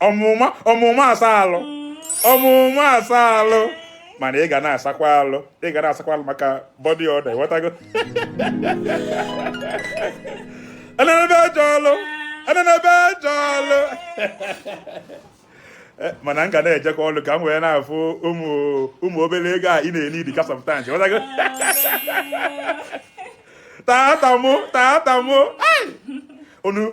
ọmụma ọmụma asa alụ ọmụma asa alụ mana ị ga na-asakwa alụ ị ga na-asakwa alụ maka body odour ịghọtago enenebe eje ọlụ enenebe eje ọlụ eh, mana m ga na-ejekwa ọlụ ka m wee na-afụ ụmụ obere ego a ị na-enye dịka sometimes ị ghọtago tata mụ tata mụ unu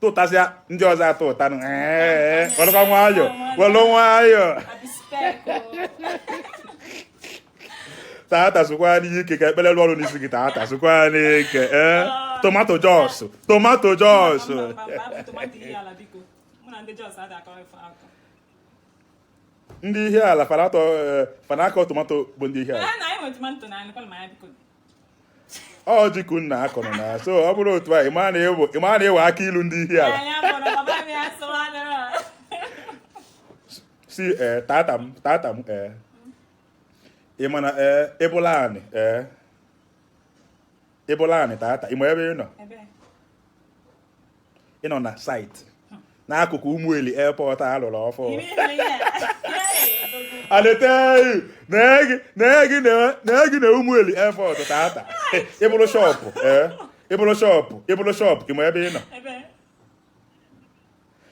tụtasịa ndị ọzọ atọ ụta welụkwa nwayọ welụ nwayọ tata zukwanụ ike ka ekpere lụọ ọrụ n'isi gị tata zukwanụ ike ee eh? ah. tomato Jos tomato Jos ndị Ihiala fa na-akọ tomato bụ ndị Ihiala ọ ji ka nna akọrọ na so ọ bụrụ otu a ị ma na ịwa aka ilu ndị Ihiala si eh, tata m tata m eh. ị ma na eh, ị bụlụ anị ị bụlụ anị tata ị ma ebe ị nọ ị nọ na site n'akụkụ Ụmụeli airport a lụrụ ọfụụ aleteghị na-egi na Ụmụeli airport tata ị bụrụ shọpụ ị bụrụ shọpụ ị bụrụ shọpụ ị ma ebe ị nọ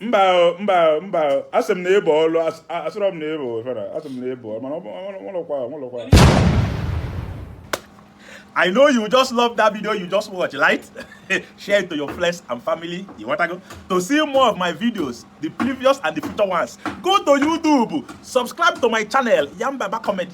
mba mba mba asị m na ị bụ ọlụ asịrọ m na ị bụ efere asị m na ị bụ mana ọlụkwa ọlụkwa I know you just love that video you just watch, right? Share it to your friends and family. You want to go? To see more of my videos, the previous and the future ones, go to YouTube, subscribe to my channel, Yanbaba Comedy.